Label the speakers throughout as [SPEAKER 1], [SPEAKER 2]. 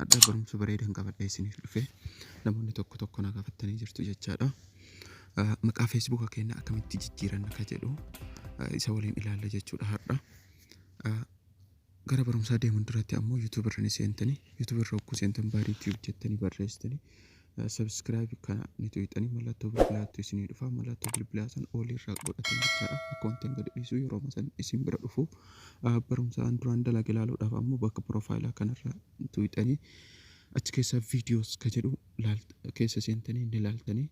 [SPEAKER 1] Hadha barumsa bareedan qabadhee isiniif dhufe namoonni tokko tokko na gaafattanii jirtu jechaadha. Maqaa feesbuuka keenya akkamitti jijjiiranna ka jedhu isa waliin ilaalla jechuudha hadha. Gara barumsaa deemuun duratti ammoo yuutuubarra ni seentanii yuutuubarra hogguu seentan baadii tiiyuub jettanii barreessitanii Subscribe kana ni tuqxanii mallattoo bilbilaattu isinii dhufa mallattoo bilbilaa san oolii irraa godhatan jechaadha akkaawuntiin gadi dhiisuu yeroo masan isin bira dhufu barumsa an duraan dalage ilaaluudhaaf ammoo bakka piroofaayilaa kanarra tuqxanii achi keessaa viidiyoos ka jedhu keessa seentanii ni laaltanii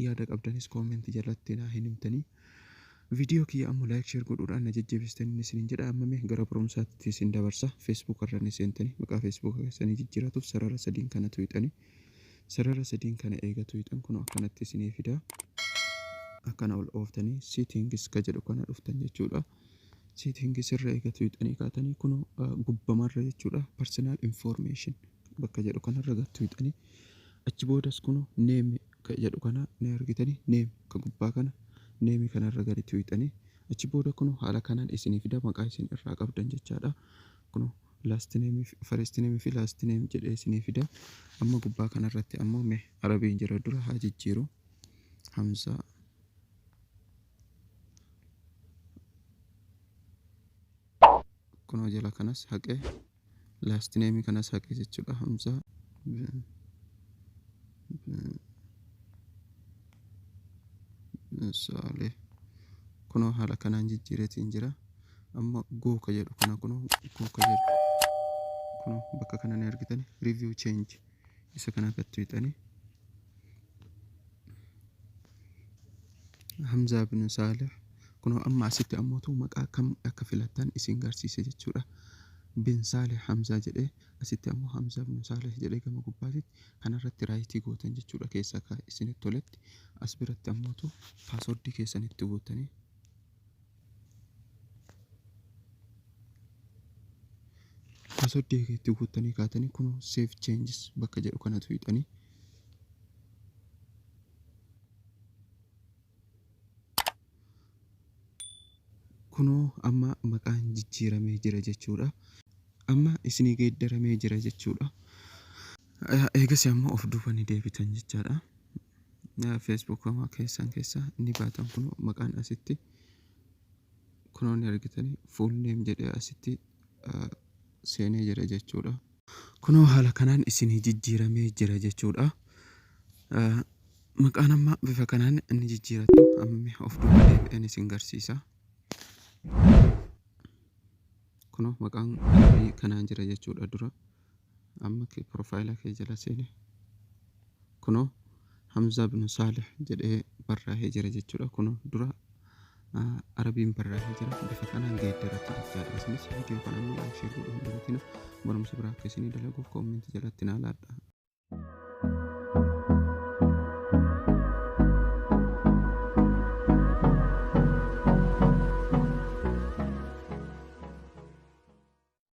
[SPEAKER 1] yaada qabdanis koomentii jalatti naa hin himtanii Viidiyoo kiyya ammo like share godhuudhaan na jajjabeessitaniin isiniin jedha amma mee gara barumsaatti isin dabarsa Facebook irra ni seentanii maqaa Facebook keessanii jijjiiratuuf sarara sadiin kana tuqxanii sarara sadiin kana eega tuqxan kunoo akkanatti isinii fida akkana ol ooftanii settings ka jedhu kana dhuftan jechuudha settings irra eega tuqxanii kaatanii kunoo gubbamarra jechuudha personal information bakka jedhu kanarra gattuuxanii achi boodas kunoo name ka jedhu kana ni argitani, name ka gubbaa kana, name kana irra gadi tuyxani, achi booda kunoo haala kanaan isinii fida, maqaa isin irraa qabdan jechaa dha. Kunoo last name fi first name fi last name jedhee isinii fida. Amma gubbaa kana irratti ammoo mee Arabiin jira dura haa jijjiiru. Hamzaa kunoo jala kanas haqee Last name kana saqe jechuudha Hamza. Saalee. Kunoo haala kanaan jijjiireetiin jira. Amma gooka jedhu kana kunoo gooka jedhu. Kunoo bakka kana ni argitan review change. isa kana akka tuyxani hamzaa bin saalih kunoo amma asitti ammootu maqaa kam akka filattan isin garsiise jechuudha bin saalih hamzaa jedhee asitti ammoo hamzaa bin saalih jedhee gama gubbaatitti kanarratti raayitii gootan jechuudha keessaa ka isinitti toletti as biratti ammootu paaswordii keessan itti guuttanii Passwordii kee itti guuttanii kaatanii kun save changes bakka jedhu kanatu hidhanii. Kunoo amma maqaan jijjiiramee jira jechuudha. Amma isinii geeddaramee jira jechuudha. Eegas ammoo of duubanii deebitan jechaadha. Facebook koma keessan keessa ni baatan kun maqaan asitti kunoo ni argitanii full name jedhee asitti seenee jira jechuudha. Kunoo haala kanaan isinii jijjiiramee jira jechuudha. Maqaan amma bifa kanaan ni jijjiirattu amma of duuba deebi'een isin garsiisa. Kunoo maqaan kanaan jira jechuudha dura. Amma kee profile kee jala seene kunoo hamzaa binu saalih jedhee barraahee jira jechuudha kunoo dura arabiin barraahee jira bifa kanaan geeddaratti jechaadha isinis viidiyoo kana amma laayik sheer godhuu hin dagatina barumsa biraa akka isinii dalaguuf koommenti jalatti naa laadha